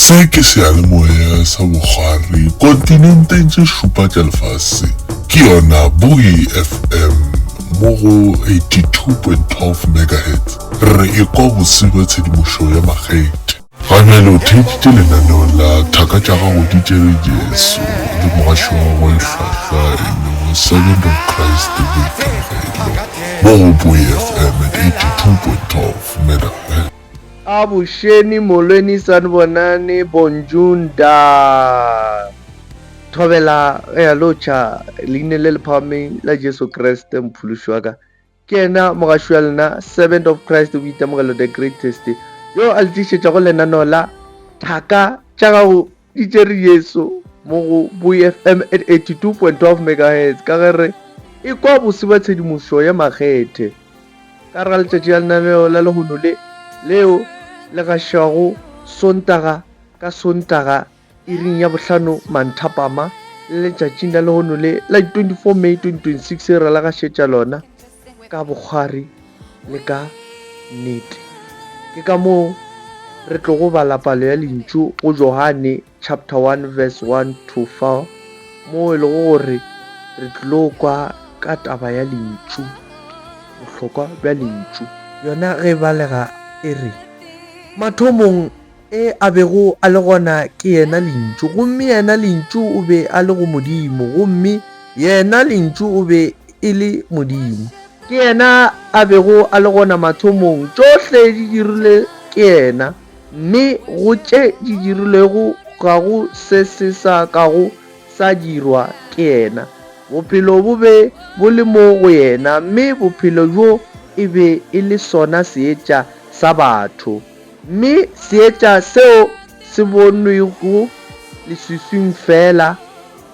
Se ke seyalemoya sa bokgwari kontinenteng tše šupa tša lefase. Ke yona Buoy FM mo go 82.12 megahertz. Re e kwa bose bja tshedimošo ya makgethe. Ga bjale o theeditše lenaneo la Thaka tša Gago di Tšere Jesu le mogaši wa gagwe e hlwahlwa e lego Servant of Christ Boikarabelo mo go Buoy FM at 82.12 megahertz. A bošeni molweni sanibonani bonjour nda thobela ea locha leine le le phahameng la Jesu Kreste mophološi wa ka ke yena mogaši wa lena servant of Christ boitemogelo the greatest yo a le tlišetšago lenaneo la thaka tša gago Di tšere Jesu mo go BooyFm at 82.12 megahertz ka ge re e kwa bose ba tshedimošo ya makgethe ka re ga letšatši la lenaneo la lehono le leo le gašwago Sontaga ka Sontaga iring ya bohlano manthapama le letšatšing la lehono le la di 24 May 2026 re la gašetša lona. ka bokgwari le ka nnete. Ke ka moo re tlogo bala palo ya lentšu go Johane chapter 1 verse 1 to 4 moo e lego gore re tlilo kwa ka taba ya lentšu, bohlokwa bja lentšu. Yona ge e balega e re, Mathomong E a bego a le gona ke Yena Lentšu, gomme Yena Lentšu o be a le go Modimo, gomme Yena Lentšu o be e le Modimo. Ke Yena a bego a le gona mathomong, tšohle di dirilwe ke Yena, mme go tše di dirilwego ga go se se sa kago sa dirwa ke Yena. Bophelo bo be bo le mo go Yena, mme Bophelo bjo e be e le sona seetša sa batho. Mme seetša seo se bonwego leswiswing feela,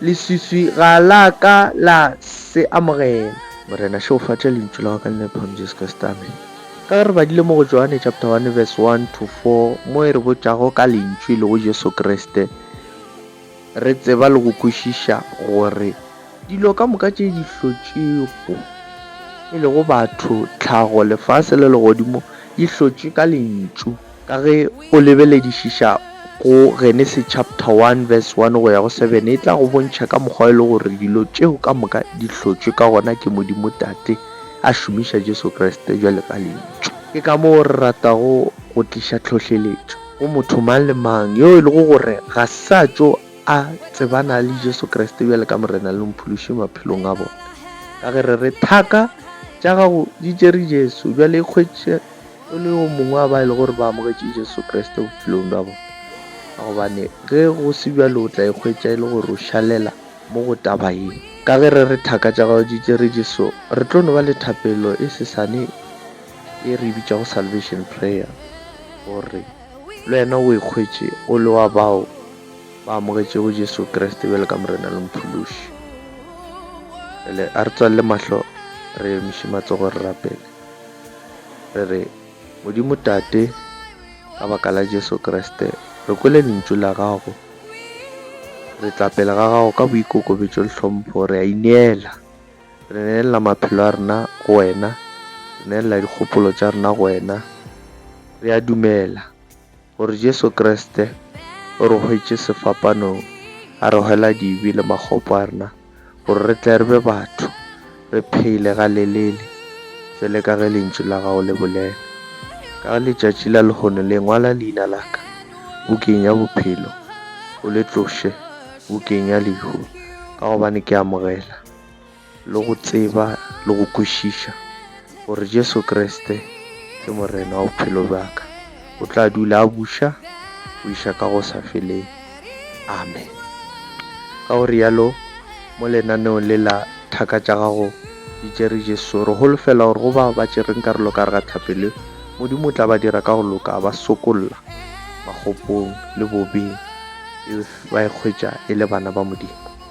leswiswi ga la ka la se amogela. Morena, šegofatša lentšu la gago ka Lenanephang Jesu Kriste. Amene. Ka ge re badile mo go Johanne chapter 1 verse 1 to 4, mo e re botšago ka Lentšu, e lego Jesu Kriste, Re tseba le go kwešiša gore dilo ka moka tše di hlotšwego, e lego batho, tlhago, lefase le legodimo, di hlotšwe ka Lentšu. Ka ge o lebeledišiša go Genese chapter 1 verse 1 go ya go 7, e tla go bontšha ka mokgwa e lego gore dilo tšeo ka moka di hlotšwe ka gona ke Modimo Tate a šomiša Jesu Kriste bjalo ka Lentšu. Ke ka moo re ratago go tliša tlhohleletšo. Go motho mang le mang yo e lego gore ga sa tšo a tsebana le Jesu Kriste bjale ka Morena le Mophološi maphelong a bona. Ka ge re re, Thaka tša gago di tšere Jesu, bjale ikgwetše o le yo mongwe wa ba e lego gore ba amogetše Jesu Kriste bophelong bja bona. Ka gobane ge go se bjalo o tla ikgwetša e le gore o šalela mo go taba ye. Ka ge re re, Thaka tša gago di tšere Jesu, re tlo no ba le thapelo e sesane. ye re e bitšago Salvation Prayer, gore le wena o ikhwetše o le wa bao ba amogetšego Jesu Kriste bjalo ka Morena le Mophološi. Bjale a re tswalle mahlo, re emiše matsogo, re rapele, re re, Modimo Tate, ka baka la Jesu Kriste, re kwele Lentšu la Gago. Re tla pele ga Gago ka boikokobetšo le tlhompho, re a ineela. Re neelela maphelo a rena go Wena, re neelela dikgopolo tša rena go Wena. Re a dumela gore Jesu Kriste o re hwetše sefapanong, a re hwela dibe le makgopo a rena, gore re tle re be batho, re phele ga lelele, fele ka ge Lentšu la Gago le bolela. Ka ge letšatši la lehono le, ngwala leina la ka bukeng ya bophelo, o le tloše bukeng ya lehu, ka gobane ke amogela. le go tseba le go kwešiša gore Jesu Kriste ke Morena wa bophelo bja ka. O tla dula a buša go iša ka go sa feleng. Amen. Ka go rialo, mo lenaneong le la Thaka tša Gago di Tšere Jesu, re holofela gore go bao ba tšereng karolo ka gare ga tlhape le, Modimo o tla ba dira ka go loka a ba sokolla makgopong le bobeng, e ba e hwetša e le bana ba Modimo.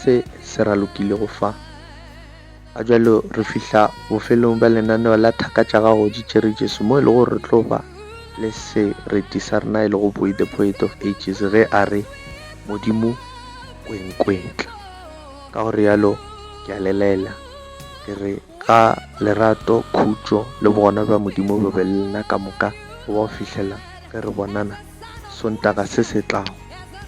se se ralokilego fa. Ga jalo re fihla bofelong bja lenaneo la Thaka tša Gago di Tšere Jesu mo e lego gore re tlo ba le sereti sa rena e lego Boy the Poet of Ages ge a re, Modimo o e nkwetla. Ka go realo ke a le laela ke re ga lerato, khutšo le bogona bja Modimo bo be le lena ka moka go ba go fihlela ge re bonana Sontaga se se tlago.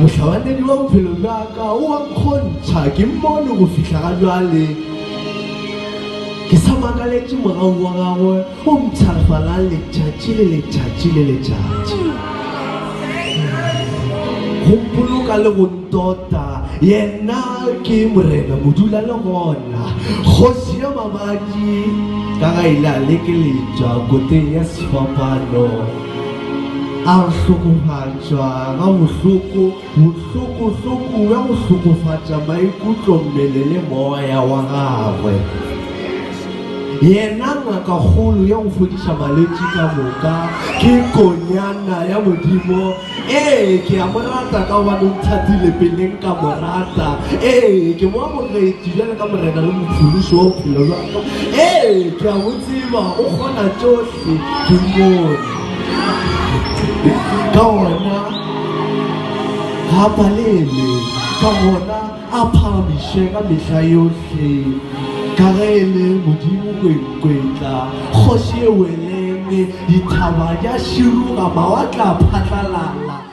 Mohlabanedi wa bophelo bja ka o a nkgontšha, ke mmone go fihla ga bjale. Ke sa makaletše mogau wa gagwe o mpshafalang letšatši le letšatši le letšatši, go mpoloka le go ntota. Yena ke Morena modula le gona, Kgoši ya mabadi, ka ga ile a lekeletšwa koteng ya sefapano. A re hlokofatša ga bohloko, bohloko-hloko bja go hlokofatša maikutlo, mmele le moya wa gagwe. Yena ngakakgolo ya go fodiša malwetši ka moka ke Konyana ya Modimo. Ee, ke a mo rata ka gobane o nthatile peleng ka mo rata. Ee, ke mo amogetše bjalo ka Morena le Mophološi wa bophelo bja ka. Ee, ke a mo tseba, o kgona tšohle. Sedumone. Ka gona ga palele, ka gona a phagamiše ka mehla yohle, ka ge e le Modimo kwenkwetla, kgoši e weleme, dithaba di a širuga, mawatle a phatlalala.